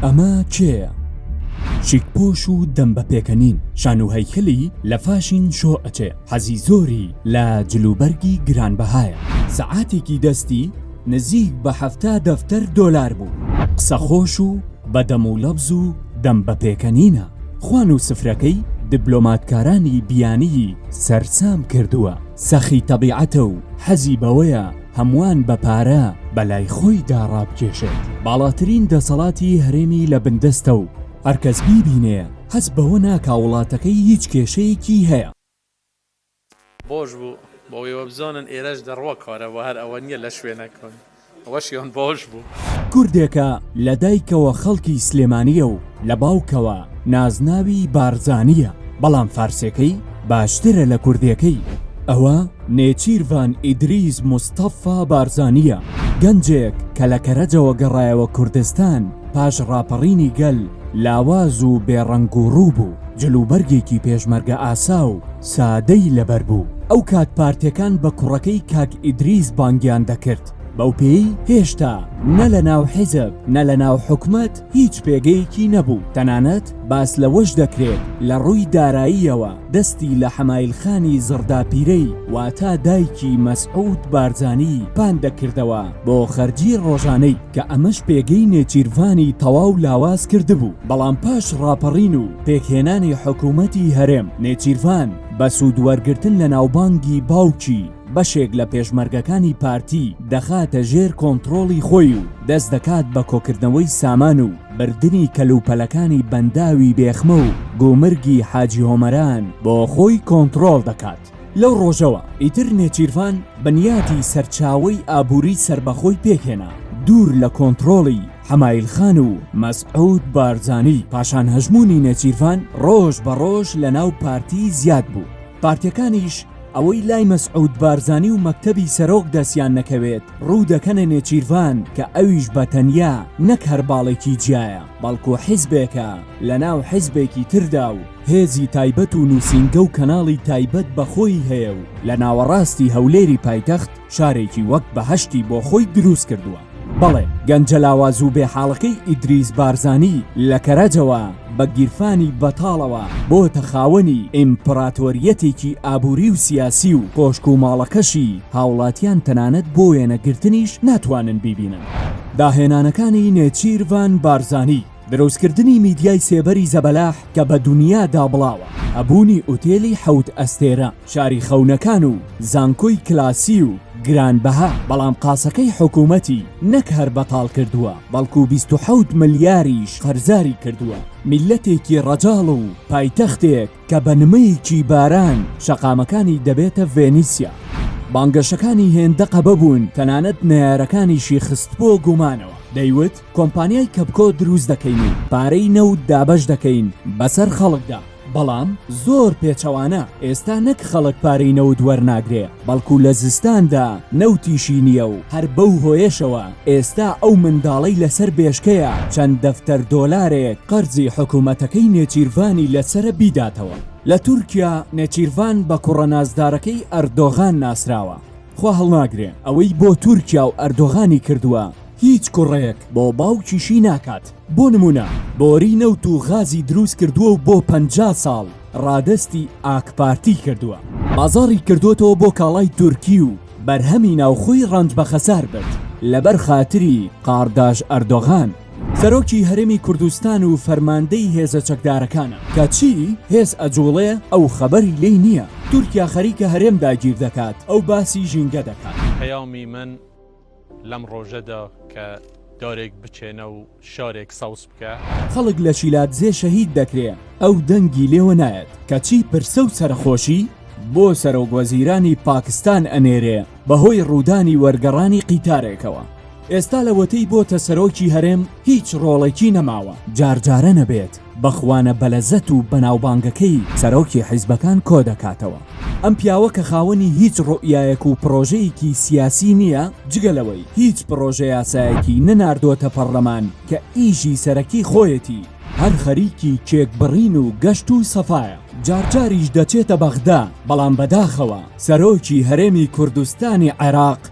ئەمە کێیە؟ چیک پۆش و دەم بە پێکەنین شان و هەیکەلی لە فاشین شۆ ئەچێ حەزی زۆری لە جلوبەرگی گرانبەهایە سەعاتێکی دەستی نزیک بە حەفتا دەفتەر دۆلار بوو قسە خۆش و بە دەم و لەبز و دەم بە پێکەنینە خوان و سفرەکەی دبلۆماتکارانی بیانیی سەرسام کردووە. سەخی تەبیعەتە و حەزی بەوەیە هەمووان بە پارە بە لای خۆیدا ڕابکێشێت. باڵاترین دەسەڵاتی هەرێمی لە بن دەستە و هەر کەس بیبینێ حەز بەوە ناکا وڵاتەکەی هیچ کێشەیەکی هەیە. بۆش بوو بۆ وێ وەبزانن ئێرەش دە ڕوە کارە وە هەر ئەوە نیە لە شوێنە کان. ئەوەشیان باش بوو. کوردێکە لە دایکەوە خەڵکی سلێمانیە و لە باوکەوە نازناوی بارزانیە بەڵام فارسێکەی باشترە لە کوردێکەی ئەوە نێچیرڤان ئیدریس مستەفا بارزانیە گەنجێک کە لە کەرەجەوە گەڕایەوە کوردستان پاش ڕاپەڕینی گەل لاواز و بێ ڕەنگ و ڕوو بوو جلوبەرگێکی پێشمەرگە ئاسا و سادەی لەبەر بوو ئەو کات پارتێکان بە کوڕەکەی کاک ئیدریس بانگیان دەکرد بەو پێی هێشتا نە لە ناو حیزب نە لە ناو حکومەت هیچ پێگەیەکی نەبوو تەنانەت باس لەوەش دەکرێت لە ڕووی داراییەوە دەستی لە حەمایل خانی زڕدا پیرەی واتا دایکی مەسعود بارزانی پان دەکردەوە بۆ خەرجی ڕۆژانەی کە ئەمەش پێگەی نێچیرڤانی تەواو لاواز کردبوو، بەڵام پاش ڕاپەڕین و پێکهێنانی حکوومەتی هەرێم، نێچیرڤان بە سوودوەرگرتن لە ناوبانگی باوکی، بەشێک لە پێشمەرگەکانی پارتی دەخاتە ژێر کۆنتڕۆڵی خۆی و دەست دەکات بە کۆکردنەوەی سامان و بردنی کەلوپەلەکانی بەنداوی بێخمە و گومرگی حاجیهۆمەران بۆ خۆی کۆنتڕۆڵ دەکات. لەو ڕۆژەوە ئیتر نێچیرڤان بنیاتی سەرچاوەی ئابووری سەربەخۆی پێکهێنا دوور لە کۆنتڕۆڵی حەمایل خان و مەسعود بارزانی پاشان هەژموونی نێچیرڤان ڕۆژ بە ڕۆژ لە ناو پارتی زیاد بوو پارتیەکانیش ئەوەی لای مەسعود بارزانی و مەکتەبی سەرۆک دەسیان نەکەوێت ڕوو دەکەنە نێچیرڤان کە ئەویش بە تەنیا نەک هەر باڵێکی جیایە بەڵکو حیزبێکە لە ناو حیزبێکی تردا و هێزی تایبەت و نووسینگە و کەناڵی تایبەت بە خۆی هەیە و لە ناوەڕاستی هەولێری پایتەخت شارێکی وەک بەهەشتی بۆ خۆی دروست کردووە. بەڵێ گەنجە لاواز و بێحاڵەکەی ئیدریس بارزانی لە کەرەجەوە بە گیرفانی بەتاڵەوە بۆتە خاوەنی ئیمپڕاتۆرییەتێکی ئابووری و سیاسی و کۆشک و ماڵەکەشی هاوڵاتیان تەنانەت بۆ وێنەگرتنیش ناتوانن بیبینن. داهێنانەکانی نێچیرڤان بارزانی. دروستکردنی میدیای سێبەری زەبەلاح کە بە دونیا دابڵاوە، هەبوونی ئوتێلی حەوت ئەستێرە، شاری خەونەکان و زانکۆی کلاسی و گرانبەها، بەڵام قاسەکەی حکوومەتی نەک هەر بەتاڵ کردووە، بەڵکوو بیست و حەوت ملیاریش قەرزاری کردووە. میللەتێکی ڕەجاڵ و پایتەختێک کە بە نمەیەکی باران شەقامەکانی دەبێتە ڤێنیسیا. بانگەشەکانی هێندە قەبە بوون تەنانەت نەیارەکانیشی خست بۆ گومانەوە، دەیوت، کۆمپانیای کەپکۆ دروست دەکەین و پارەی نەوت دابەش دەکەین بەسەر خەڵکدا بەڵام زۆر پێچەوانە ئێستا نەک خەڵک پارەی نەوت وەرناگرێ بەڵکو لە زستاندا نەوتیشی نییە و هەر بەو هۆیەشەوە ئێستا ئەو منداڵەی لەسەر بێشکەیە چەند دەفتەر دۆلارێک قەرزی حکومەتەکەی نێچیرڤانی لەسەرە بیداتەوە لە تورکیا نێچیرڤان بە کوڕە نازدارەکەی ئەردۆغان ناسراوە. خوا هەڵناگرێ ئەوەی بۆ تورکیا و ئەردۆغانی کردووە هیچ کوڕێک بۆ باوکیشی ناکات بۆ نمونە بۆری نەوت و غازی دروست کردووە و بۆ پەنجا ساڵ ڕادەستی ئاکپارتی کردووە بازاڕی کردۆتەوە بۆ کاڵای تورکی و بەرهەمی ناوخۆی ڕەنج بەخەسار برد لەبەر خاتری قاڕداژ ئەردۆغان. سەرۆکی هەرێمی کوردستان و فەرماندەی هێزە چەکدارەکانە کە چی هێز ئەجوڵێ ئەو خەبەری لێی نییە تورکیا خەریکە هەرێم داگیر دەکات ئەو باسی ژینگە دەکات. پەیامی من لەم ڕۆژەدا کە دارێک بچێنە و شارێک سەوز بکە. خەڵک لە شیلادزێ شەهید دەکرێ ئەو دەنگی لێوە نایەت کە چی پرسە و سەرەخۆشی بۆ سەرۆک وەزیرانی پاکستان ئەنێرێ بەهۆی ڕوودانی وەرگەڕانی قیتارێکەوە. ئێستا لەوەتەی بۆتە سەرۆکی هەرێم هیچ ڕۆڵێکی نەماوە جارجارە نەبێت بەخوانە بەلەزەت و بەناوبانگەکەی سەرۆکی حیزبەکان کۆدەکاتەوە ئەم پیاوە کە خاوەنی هیچ ڕوئیایەک و پڕۆژەیەکی سیاسی نییە جگە لەوەی هیچ پڕۆژە یاسایەکی نەناردۆتە پەڕلەمان کە ئیژی سەرەکی خۆیەتی هەر خەریکی کێک بڕین و گەشت و سەفایە جارجاریش دەچێتە بەغدا بەڵام بەداخەوە سەرۆکی هەرێمی کوردستانی عێراق